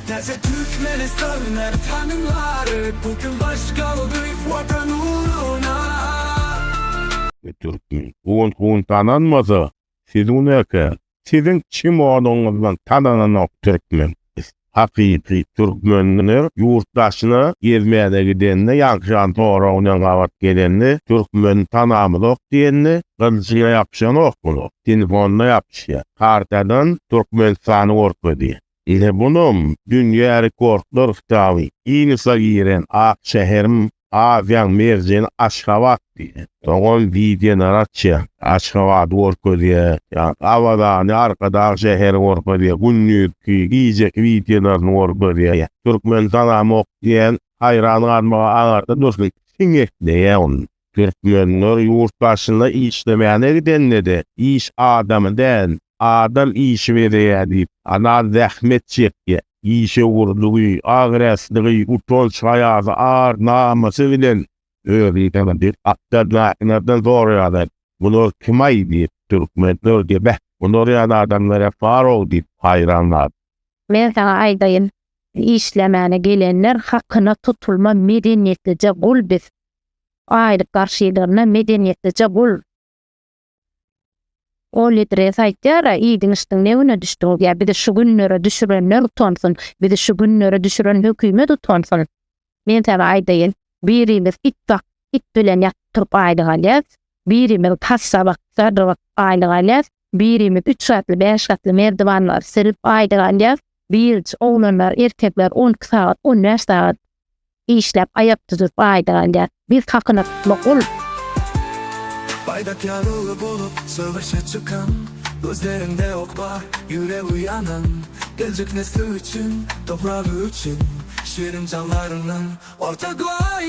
Täze Türkmenistan mert hanymlary bu gün baş galdyryp Watan ugruna. Bu türkmen un-un tananmasa, siz un eken. Siziň çimonyňyzdan tanananok türkmen. Hakyky türkmenler ýurt daşyna gezmäne gidende ýagşan sorag bilen gabat gelende türkmen tanamyzok diýende gylyjyna ýapyşanok muny telefonyna ýapyşýa kartadan türkmenistany görkezýä ine bunam dünýä rekordlar kitaby ginesa giren ak şäherim Aziýaň merjeni Aşgabat diýdi. Dogan Diýdenaratçyýa Aşgabady görkezýär, ýa-da Abadany, Arkadag şäheri görkezýär, gündizki, gijeki wideolaryny görkezýär. Türkmen tanamok diýen haýran galmaga aňarda dursun, siňekleýär ony. Türkmenler ýurt başyna işlemäne gidende-de, iş adamy däl, adam işi bezeýär diýip, Anal zähmet çekýär. işewürligi, agreslygy, utanç haýasy, ar, namysy bilen özüni tanadyp, akdagdakylardan soraýarlar, Bular kim-aý? diýip, türkmenler diýip, Beh, bular ýaly adamlar hem bar-ow diýip, haýran galyp. Men saňa aýdaýyn, işlemäne gelenler hakyna tutulma medeniýetlije gul biz. Aýlyk garşylarynda medeniýetlije gul. Ol Idris aýtýar-a, iýdiň-içdiň ne güne düşdüň? Ýa bizi şu günlere düşürenler utansyn, bizi şu günlere düşüren hökümet utansyn. Men saňa aýdaýyn, birimiz it bak, it bilen ýatyp-turup aýlyk alýas, birimiz passa bak, sadrygyp aýlyk alýas, birimiz üç gatly, bäş gatly merdiwanlary silip aýlyk alýas, biriji oglanlar, erkekler on iki sagat, on bäş sagat işläp aýak düzüp gaýdalýar. Biz hakyna tutma gul. Baýdak ýaly bolup söweşe çykan, Gözleriňde ok bar, ýüregi ýanan, Geljek nesli üçin, topragy üçin, Şirin janlaryňdan orta goýan.